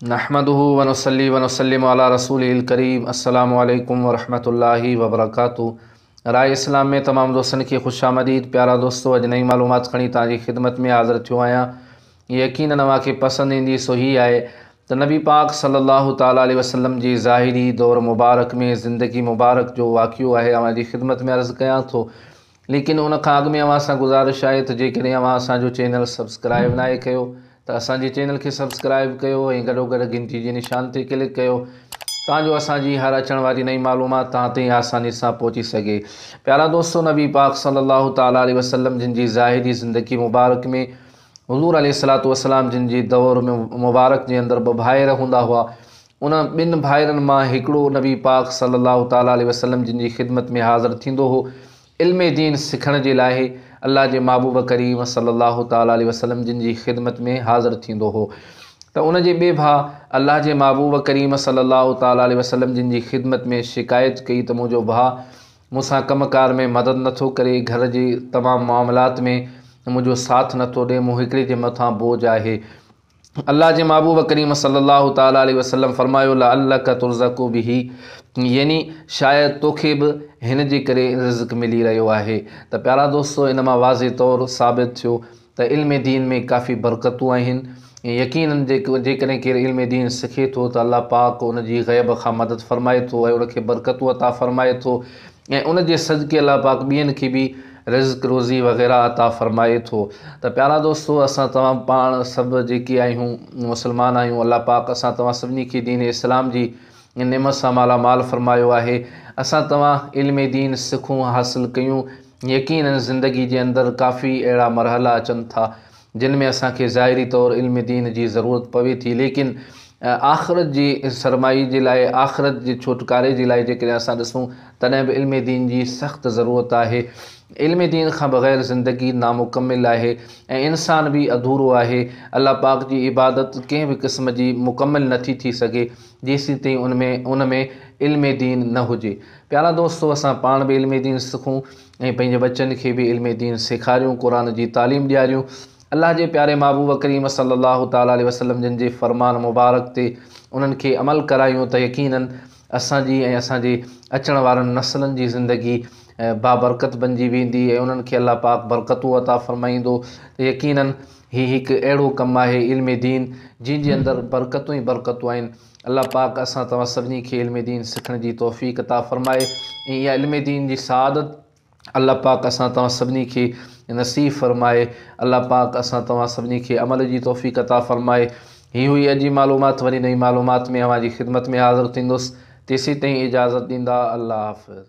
نحمده ونصلي ونسلم علي رسوله الڪريم السلام عليڪم ورحمة الله وبرڪاته راء اسلام ۾ تمام دوستن کي خوش آمديد پيارا دوستو اڄ نئين معلومات کڻي توهان جي خدمت ۾ حاضر ٿيو آهيان يقينن اوهان کي پسند ايندي سو هي آهي ته نبي پاڪ صلي الله تعالٰي عليه وسلم جي ظاهري دور مبارڪ ۾ زندگي مبارڪ جو واقعو آهي اوهان جي خدمت ۾ عرض ڪيان ٿو ليڪن ان کان اڳ ۾ اوهان سان گذارش آهي ته جيڪڏهن اوهان اسان جو چينل سبسڪرائيب ناهي ڪيو ته اسان جي چينل کي سبسڪرائيب ڪيو ۽ گڏوگڏ گهنٽي جي نشان تي ڪلڪ ڪيو تان جو اسان جي هر اچڻ واري نئين معلومات توهان تائين آساني سان پهچي سگهي پيارا دوستو نبي پاڪ صلي الله تعالٰي عليه وسلم جن جي ظاهري زندگي مبارڪ ۾ حضور عليه الصلوۃ والسلام جن جي دور ۾ مبارڪ جي اندر ٻه ڀائر هوندا هئا انهن ٻن ڀائرن مان هڪڙو نبي پاڪ صلّي اللّٰه تعالٰي عليه وسلّم جن جي خدمت ۾ حاضر ٿيندو هو علم دين سکڻ جي لاء، الله جي محبوب ڪريم صلّي اللّٰه تعالٰي عليه وسلّم جن جي خدمت ۾ حاضر ٿيندو هو ته ان جي ٻئي ڀاء الله جي محبوب ڪريم صلّي اللّٰه تعالٰي عليه وسلّم جن جي خدمت ۾ شڪايت ڪئي ته منهنجو ڀاء مون سان ڪم ڪار ۾ مدد نه ٿو ڪري، گهر جي تمام معاملات ۾ منهنجو ساٿ نه ٿو ڏئي، مون هڪڙي جي مٿان بوجھ آهي. الله جي محبوب ڪريم صلّي الله تعالٰي عليه وسلّم فرمايو لعلّک ترزق به يعني شايد توکي به هن جي ڪري رزق ملي رهيو آهي ته پيارا دوستو ان مان واضح طور ثابت ٿيو ته علم دين ۾ ڪافي برڪتون آهن يقينن جيڪڏهن ڪير علم دين سکي ٿو ته الله پاڪ ان جي غيب کان مدد فرمائي ٿو ۽ ان کي برڪتون عطا فرمائي ٿو ۽ ان جي صدقي الله پاڪ ٻين کي به رزق روزي وغيره عطا فرمائي ٿو ته پيارا دوستو اسان توهان پاڻ سڀ جيڪي آهيون مسلمان آهيون الله پاڪ اسان توهان سڀني کي دين اسلام جي نعمت سان مالا مال فرمايو آهي اسان توهان علم دين سکون حاصل ڪيون يقينن زندگي جي اندر ڪافي اهڙا مرحلا اچن ٿا جن ۾ اسان کي ظاهري طور علم دين جي ضرورت پوي ٿي ليڪن آخرت جي سرمائي جي لاء آخرت جي ڇوٽڪاري جي لاء جيڪڏهن اسان ڏسون تڏهن به علم دين جي سخت ضرورت آهي علم دين کان بغير زندگي نامڪمل آهي ۽ انسان به اڌورو آهي الله پاڪ جي عبادت ڪنهن به قسم جي مڪمل نٿي ٿي سگهي جيسين تائين ان ۾ ان ۾ علم دين نه هجي پيارا دوستو اسان پاڻ به علم دين سکون ۽ پنهنجي ٻچن کي به علم دين سيکاريون، قرآن جي تعليم ڏياريون، الله جي پياري محبوب ڪريم صلّي اللّٰه تعالٰي عليه وسلّم جن جي فرمان مبارڪ تي انهن کي عمل ڪرايون ته يقيناً اسان جي ۽ اسان جي اچڻ وارن نسلن جي زندگي بابرڪت بنجي ويندي ۽ انهن کي الله پاڪ برڪتون عطا فرمائيندو ته يقيناً هي هڪ اهڙو ڪم آهي علم دين جنهن جي اندر برڪتون ئي برڪتون آهن. الله پاڪ اسان توهان سڀني کي علم دين سکڻ جي توفيق عطا فرمائي ۽ اها علم دين جي سعادت الله پاڪ اسان توهان سڀني کي نصيب فرمائي الله پاڪ اسان توهان سڀني کي عمل جي توفيق عطا فرمائي هي هئي اڄ جي معلومات وري نئين معلومات ۾ اوهان جي خدمت ۾ حاضر ٿيندس تيسين تائين اجازت ڏيندا الله حافظ